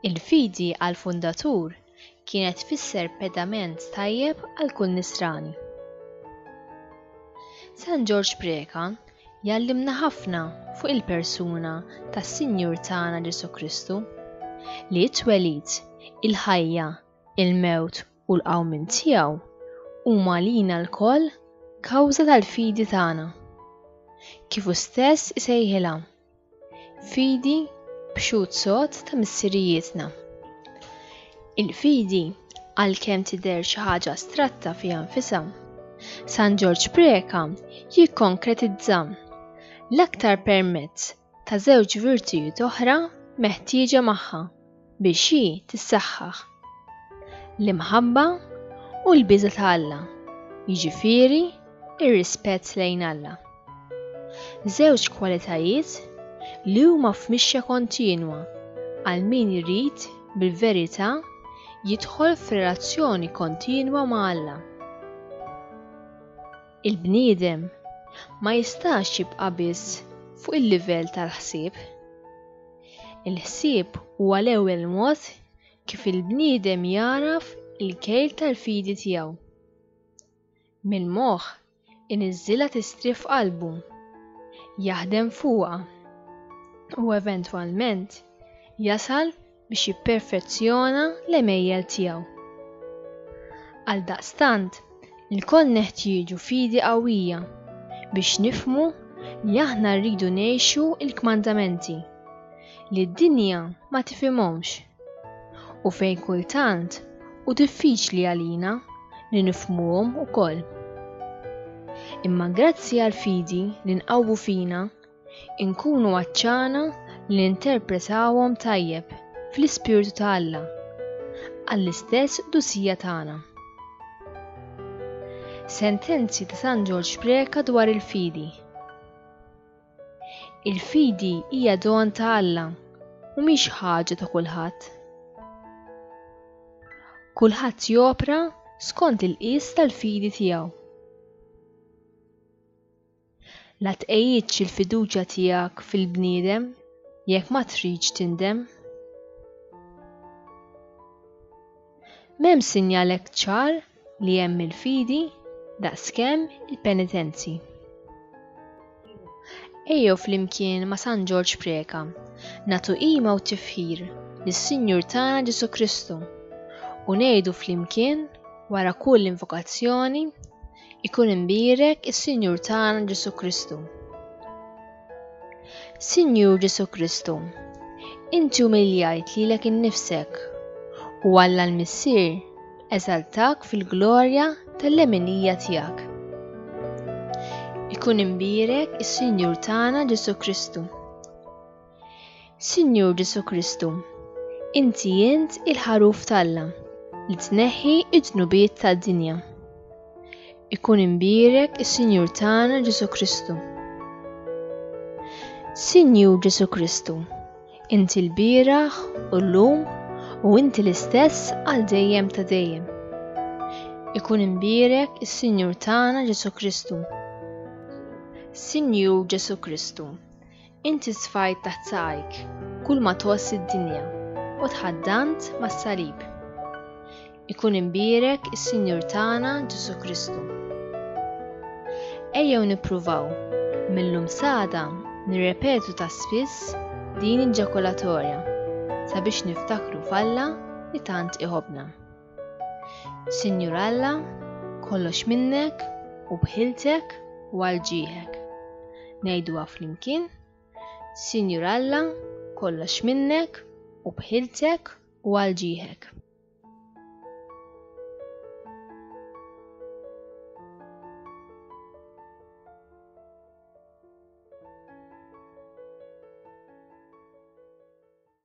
Il-fidi għall-fundatur kienet tfisser pedament tajjeb għal kull nisrani. San Ġorġ Preka jallimna ħafna fuq il-persuna tas-Sinjur tagħna Ġesu Kristu li t-twelid, il-ħajja, il-mewt u l-qawmien tiegħu huma għalina lkoll kawża tal-fidi tagħna. Kif hu stess isejħilha, fidi b'xhud sod ta' missirijietna. Il-fidi għalkemm tidher xi ħaġa astratta fiha nfisha, San Ġorġ Preca jikkonkretizza l-aktar permezz ta' żewġ virtujiet oħra meħtieġa magħha biex hi tissaħħaħ, l-imħabba u l-biża' ta' Alla, jiġifieri r-rispett lejn Alla. Żewġ kwalitajiet li huma f'mixja kontinwa għal min irid bil-verità jidħol f'relazzjoni kontinwa ma' Alla. Il-bniedem ma jistax jibqa' biss fuq il-livell tal-ħsieb. Il-ħsieb huwa l-ewwel mod kif il-bniedem jagħraf il-kejl tal-fidi tiegħu. Mill-moħħ iniżżilha tistrieħ f'qalbu, jaħdem fuqha, u eventwalment jasal biex jipperfezzjona l-għemejjel tiegħu. Għaldaqstant, ilkoll neħtieġu fidi qawwija biex nifhmu li aħna rridu ngħixu l-kmandamenti li d-dinja ma tifhimhomx u fejn kultant hu diffiċli għalina li nifhmuhom ukoll. Imma grazzi għall-fidi li nqawwu fina, Inkunu għatxana li ninterpretawhom tajjeb fl-ispirtu ta' Alla għall-istess qdusija tagħna. Sentenzi ta' San Ġorġ Preca dwar il-fidi. Il-fidi hija don ta' Alla u mhix ħaġa ta' kulħadd. Kulħadd jopra skont il-qies tal-fidi tiegħu. La tqejdx il-fiduċja tiegħek fil-bniedem jekk ma tridx tindem. M'hemm sinjal hekk ċar li hemm il-fidi daqskemm il-penitenzi. Ejjew flimkien ma' San Ġorġ Preka natu qima u tifħir lis-Sinjur tagħna Ġesu Kristu u ngħidu flimkien wara kull invokazzjoni Ikun imbierek is-Sinjur tagħna Ġesu Kristu. Sinjur Ġesu Kristu, inti umiljajt lilek innifsek u Alla l-Missier eżaltak fil-glorja tal-leminija tiegħek. Ikun imbierek is-Sinjur tagħna Ġesu Kristu. Sinjur Ġesu Kristu, inti int il-ħaruf t'Alla li tneħħi id-dnubiet tad-dinja. Ikun imbierek is-Sinjur tagħna Ġesu Kristu. Sinjur Ġesu Kristu, inti l-bieraħ u l-lum u inti l-istess għal dejjem ta' dejjem. Ikun imbierek is-Sinjur tagħna Ġesu Kristu. Sinjur Ġesu Kristu, Inti sfajt taħt saqajk kull ma tgħożż id-dinja u tħaddant mas-salib. Ikun imbierek is-Sinjur tagħna Ġesù Kristu. Ejjew nippruvaw mill-lum sada nirrepetu ta' spiss din il-ġakulatorja sabiex niftakru f'Alla li tant iħobbna. Sinjur Alla, kollox minnek u bħiltek u għal ġieħek. Ngħiduha flimkien, Sinjur Alla, kollox minnek u bħiltek u għal ġieħek.